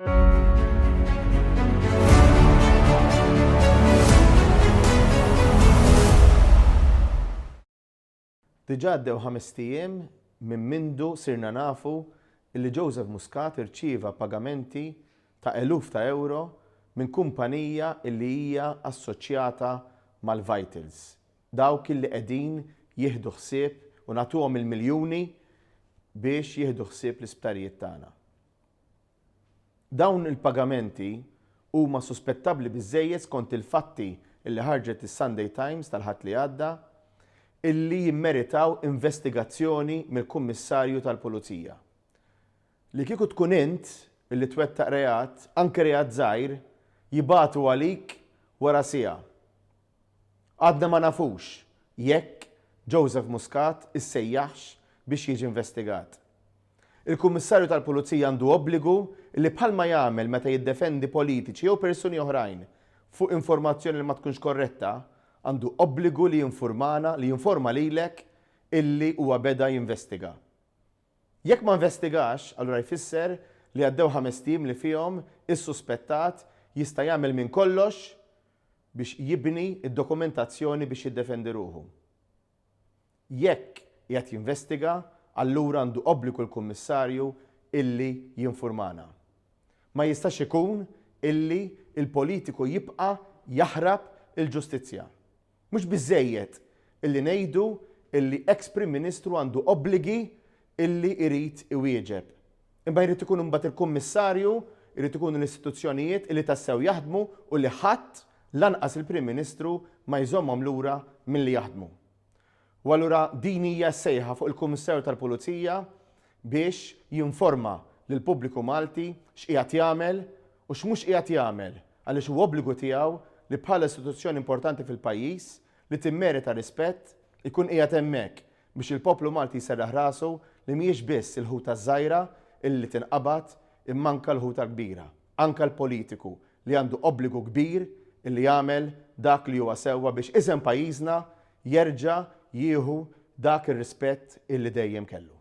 Diġà għaddew ħamest ijiem minn mindu sirna nafu li Joseph Muscat irċieva pagamenti ta' eluf ta' ewro minn kumpanija li hija assoċjata mal-Vitals, dawk li qegħdin jieħdu ħsieb u nagħtuhom il-miljuni biex jieħdu ħsieb l-isptarijiet tagħna. Dawn il-pagamenti huma suspettabbli biżżejjed skont il-fatti li ħarġet is-Sunday Times tal-Ħadd li għadda illi jimmeritaw investigazzjoni mill-Kummissarju tal-Pulizija. Li kieku tkun int illi twettaq reat, anke reat żgħir, jibagħtu għalik wara siegħa. Għadna ma nafux jekk Joseph Muscat issejjaħx biex jiġi investigat. Il-Kummissarju tal-Pulizija għandu obbligu li bħalma jagħmel meta jiddefendi politiċi jew persuni oħrajn fuq informazzjoni li ma tkunx korretta, għandu obbligu li jinfurmana, li jinforma lilek illi huwa beda jinvestiga. Jekk ma investigax, allura jfisser li għaddew ħamest ijiem li fihom is-suspettat jista' jagħmel minn kollox biex jibni d-dokumentazzjoni biex jiddefendi ruħu. Jekk qiegħed jinvestiga, allura għandu obbligu l-Kummissarju illi jinfurmana. Ma jistax ikun illi l-politiku jibqa' jaħrab il-ġustizzja. Mhux biżżejjed illi ngħidu illi eks Prim Ministru għandu obbligi illi jrid iwieġeb. Imma jrid ikun imbagħad il-Kummissarju, jrid ikunu l-istituzzjonijiet illi tassew jaħdmu u li ħadd, lanqas il-Prim Ministru, ma jżommhom lura milli jaħdmu. U allura din hija s-sejħa fuq il-Kummissarju tal-Pulizija biex jinforma lill-pubbliku Malti x'qiegħed jagħmel u x'mhux qiegħed jagħmel għaliex hu obbligu tiegħu li bħala istituzzjoni importanti fil-pajjiż li timmerita rispett ikun qiegħed hemmhekk biex il-poplu Malti jserraħ rasu li mhijiex biss il-ħuta ż-żgħira illi tinqabad imma anke l-ħuta l-kbira. Anke l-politiku li għandu obbligu kbir li jagħmel dak li huwa sewwa biex isem pajjiżna jerġa' jieħu dak ir-rispett illi dejjem kellu.